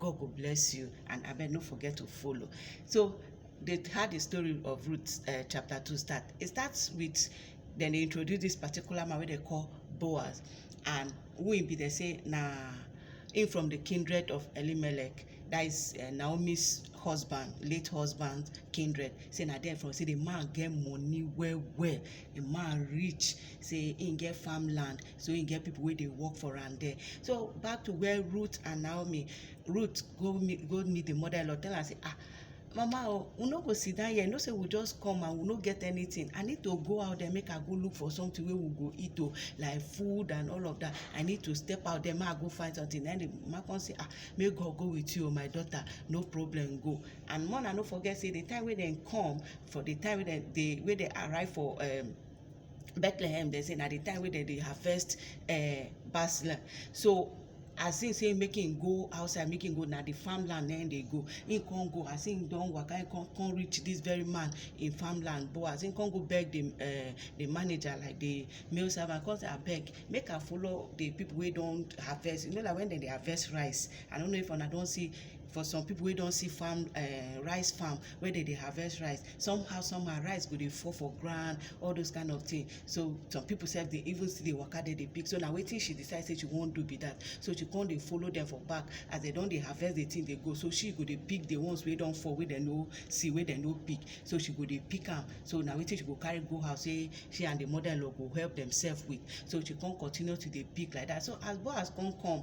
God go bless you and abeg no forget to follow. So they had the story of Ruth uh, chapter 2 start. It starts with then they introduce this particular man wey they call Boaz and who him be they say na him from the kindred of Elimelech that is uh, Naomi's husband late husband kindred say na there from say the man get money well well the man rich say him get farmland so him get people wey dey work for am there so back to where ruth and naomi ruth go meet go meet the mother-in-law tell am say ah mama oh we no go sit down here you know say we just come and we no get anything i need to go out there make i go look for something wey we go eat o oh, like food and all of that i need to step out there make i go find something then the man come say ah make god go with you o oh, my daughter no problem go and more na no forget say the time wey dem come for the time wey dem dey wey dem arrive for um, bethlehem dem say na the time wey dem dey harvest uh, basil so as him say make him go outside make him go na the farmland na him dey go him come go as him don waka him come come reach this very man in farmland but as him come go beg the uh, the manager like the male servant come say abeg make i follow the people wey don harvest you know like when dem dey harvest rice i don't know if una don see for some people wey don see farm um rice farm wey dem dey harvest rice somehow somehow rice go dey fall for ground all those kind of thing so some people sef dey even still dey waka dey dey pick so na wetin she decide say she wan do be that so she come dey follow them for back as they don dey harvest the thing dey go so she go dey pick the ones wey don fall wey dem no see wey dem no pick so she go dey pick am so na wetin she go carry go house say she and the mother-in-law go help themselves with so she come continue to dey pick like that so as boaz come come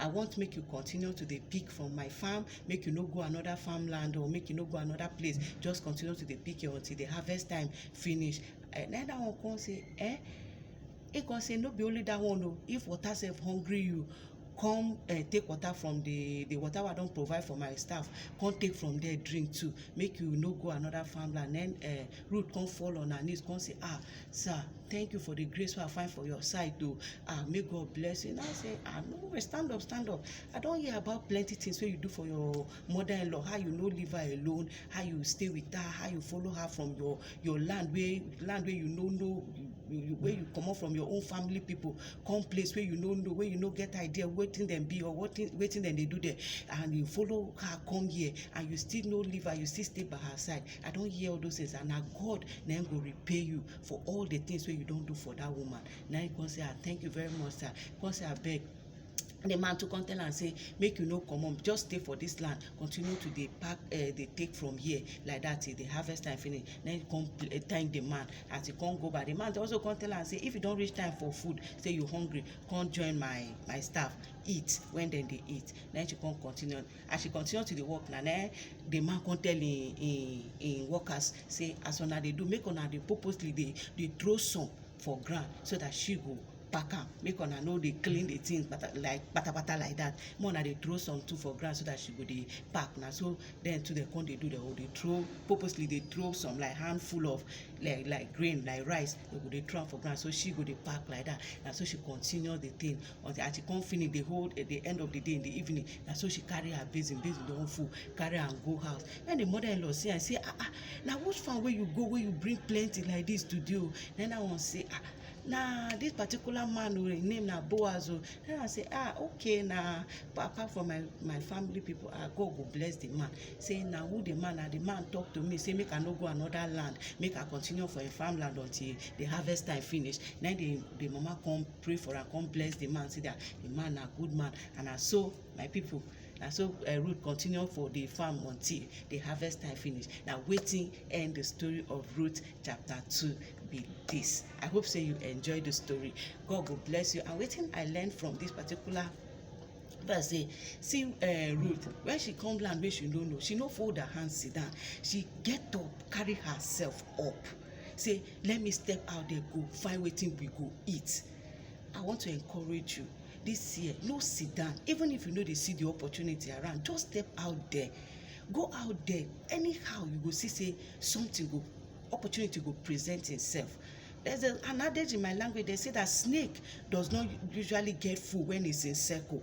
I want make you continue to dey pick from my farm, make you no go another farmland or make you no go another place, just continue to dey pick your until the harvest time finish. Eh, na that one come say, eh, he come say no be only that one o, if water sef hungry you, come eh, take water from the the water wey I don provide for my staff, come take from there drink too, make you no go another farmland. Na im eh Ruth come fall on her knees, come say, Ah, sir, thank you for the grace wey I find for your side o. Oh. Ah, may God bless you. And I say, Ah, no worry, stand up, stand up. I don hear about plenty things wey you do for your mother-in-law, how you no leave her alone, how you stay with her, how you follow her from your your land wey land wey you no know you wey you comot from your own family people come place wey you no know wey you no get idea wetin dem be or wetin wetin dem dey do there and you follow her come here and you still no leave her you still stay by her side I don hear all those things and na God na him go repay you for all the things wey you don do for that woman na him come say ah thank you very much sir he come say abeg the man too come tell am say make you no comot just stay for this land continue to dey pack uh, dey take from here like that till the harvest time finish then he come uh, thank the man as he come go back the man also come tell am say if you don reach time for food say you hungry come join my my staff eat when dem dey eat then she come continue as she continue to dey work na na the man come tell him him him workers say as una dey do make una dey purposely dey dey throw some for ground so that she go pack am make una no dey clean the thing pata like patapata like that make una dey throw some too for ground so that she go dey pack na so dem too dem come dey do dem go dey throw purposely dey throw some like handful of like like grain like rice dem go dey throw am for ground so she go dey pack like that na so she continue the thing until as she come finish the whole at the end of the day in the evening na so she carry her basin basin don full carry am go house when the mother-in-law see am say ah ah na which farm wey you go wey you bring plenty like this today o na that one say ah na this particular man o him name na boaz o na i say ah okay na apart from my my family people ah god go bless the man say na who the man na the man talk to me say make i no go another land make i continue for him farmland until the harvest time finish na the the mama come pray for am come bless the man say that the man na good man and na so my people na so uh, eh, Ruth continue for the farm until the harvest time finish na wetin end the story of Ruth chapter two be this i hope say you enjoy the story god go bless you and wetin i learn from this particular verse say see uh, ruth when she come land wey she no know she no fold her hand sit down she get up carry herself up say let me step out there go find wetin we go eat i want to encourage you this year no sit down even if you no dey see the opportunity around just step out there go out there anyhow you go see say something go opportunity go present itself there's a, an adage in my language they say that snake does not usually get food when it's in circle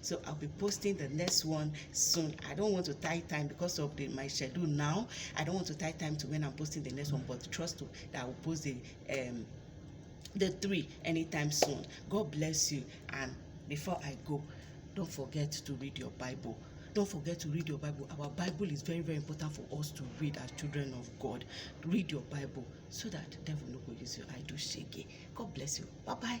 so i'll be posting the next one soon i don't want to tie time because of the my schedule now i don't want to tie time to when i'm posting the next one but trust to that i will post the um the three anytime soon god bless you and before i go don't forget to read your bible don't forget to read your bible our bible is very very important for us to read as children of god read your bible so that devil no go use your eye do shege god bless you bye bye